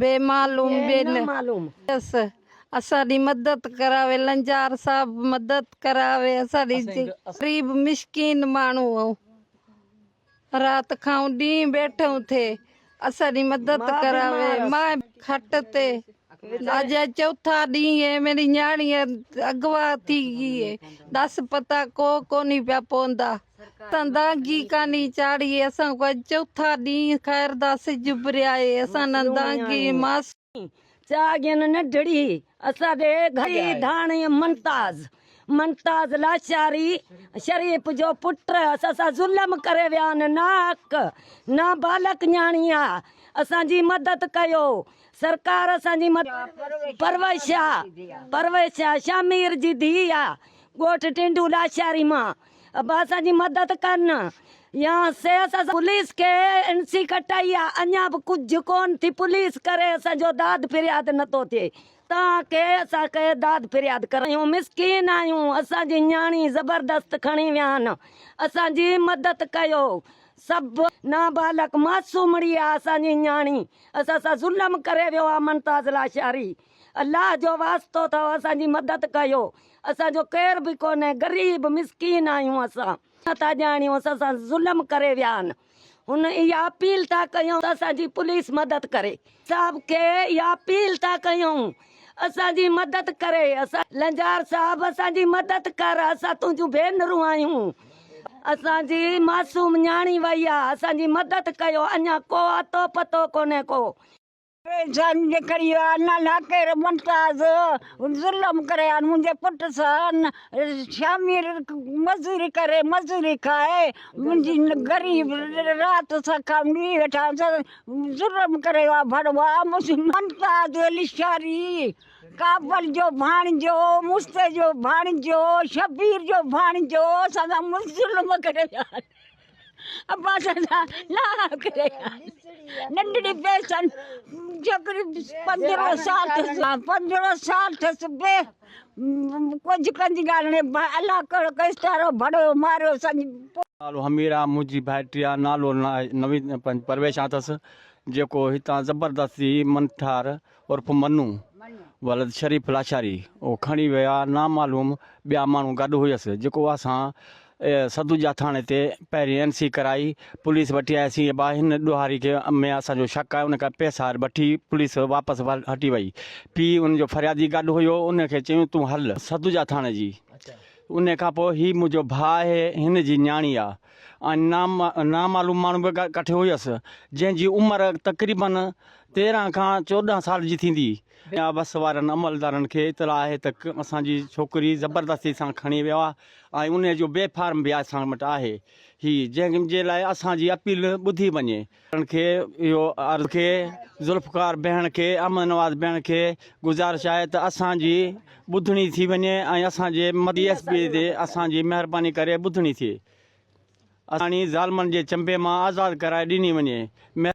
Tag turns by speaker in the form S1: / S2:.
S1: بي معلوم بي نه معلوم ڪيس اسان ڏي مدد ڪراوي لنجار صاحب مدد ڪراوي اسان ڏي غريب مشڪين ماڻهو آهون رات کائون ڏينهن بيٺون ٿي اسان ڏي مدد ڪراوي ماء کٽ تي اڄ چوٿا ڏينهن منهنجي نياڻي اغوا ٿي گئي دس پتا ڪو ڪونهي پيا پوندا. اسان دانگي ڪاني چاڙهي اسان کان اڄ چوٿا ڏينهن خير دا سج اڀريائي اسان نه دانگي ماس. چاڳين
S2: نڍڙي اسان ڏي گهڙي ڌاڻي منتاز منتاز لاشاري شريف جو پٽ اسان سان ظلم ڪري ويان ناحق نابالغ نياڻي آ اسان جي مدد ڪيو سرڪار اسان جي مدد پرويز شاهه پرويز شاهه شاهه مير جي ڌي آ ڳوٺ ٽنڊو لاشاري مان اسان جي مدد ڪن يا سي اسان سان پوليس کي اين سي ڪٽائي آ اڃا به ڪجهه ڪون ٿي پوليس ڪري اسان جو داد فرياد نه ٿو ٿئي توهان کي اسان کي داد فرياد ڪرايون مسڪين آهيون اسان جي نياڻي زبردست کڻي ويا آهن اسان جي مدد ڪيو سڀ نابالغ معصومڙي آ اسان جي نياڻي اسان سان ظلم ڪري ويو آ ممتاز لاشاري الله جو واسطو اٿو اسان جي مدد ڪيو اسان جو ڪير به ڪونهي غريب مسڪين آهيون اسان نه ٿا ڄاڻيون اسان سان ظلم ڪري ويا آهن هن اها اپيل ٿا ڪيون ته اسان جي پوليس مدد ڪري صاحب کي اها اپيل ٿا ڪيون اسان جي مدد ڪري اسان لنجار صاحب اسان جي مدد ڪر اسان تنهنجون ڀينرون آهيون اسان جي معصوم نياڻي وئي آهي اسان جي مدد ڪيو اڃان ڪو اتو پتو ڪونهي ڪو. انسان جي ڪري آ نه ناڪير ممتاز ظلم ڪري آ منهنجي پٽ سان شامي مزوري ڪري مزوري کائي منهنجي غريب رات سان ڪامڙي ويٺا ظلم ڪري آ ڀڙوا ممتاز لشاري ڪابل جو ڀاڻجو مستي جو ڀاڻجو شبير جو ڀاڻجو اسان سان ظلم ڪري آ اباٽا جا ناڻا ڪري آن ننڍڙي پيسن جوڪري پندرهو سال ٿيس پندرهو سال ٿيس بي ڪجھ ڪندي ڳالهي الله ڪهڙو ڪيس تارو ڀڙو ماريو سنج نالو
S3: حميرا منهنجي ڀائٽي آ نالو نويد پرويش آ ٿس جيڪو هتان زبردست جي منٺار عرف منو ولد شريف لاشاري او کڻي ويا نامعلوم ٻيا ماڻهو گڏ هئس جيڪو اسان سدوجا ٿاڻي تي پهرين اين سي ڪرائي پوليس وٽي آياسين اي با هن ڏوهاري کي ۾ اسان جو شڪ آهي ان ڪري پيسا وٺي پوليس واپس هٽي وئي پي ان جو فريادي گڏ هيو ان کي چيون تون هل سدوجا ٿاڻي جي ان کان پوء هي منهنجو ڀاء آهي هن جي نياڻي آهي ۽ نامعلوم ماڻهو به ڪٺي هيس، جنهن جي عمر تقريباً تيرهن کان چوڏهن سال جي ٿيندي. جناب بس وارن عملدارن کي اطلاع آهي ته اسان جي ڇوڪري زبردستي سان کڻي ويو آهي ۽ انهيء جو بي فارم به اسان وٽ آهي. هي جنهن جي لاء اسان جي اپيل ٻڌي وڃي. ڪرڻ کي اهو عرض کي ذوالفقار بيهڻ کي احمد نواز بيهڻ کي گذارش آهي ته اسان جي ٻڌڻي ٿي وڃي ۽ اسان جي مدي ايس پي تي اسان جي مهرباني ڪري ٻڌڻي ٿئي اساڻي ظالمن جي چنبي مان آزاد ڪرائي ڏني وڃي مهرباني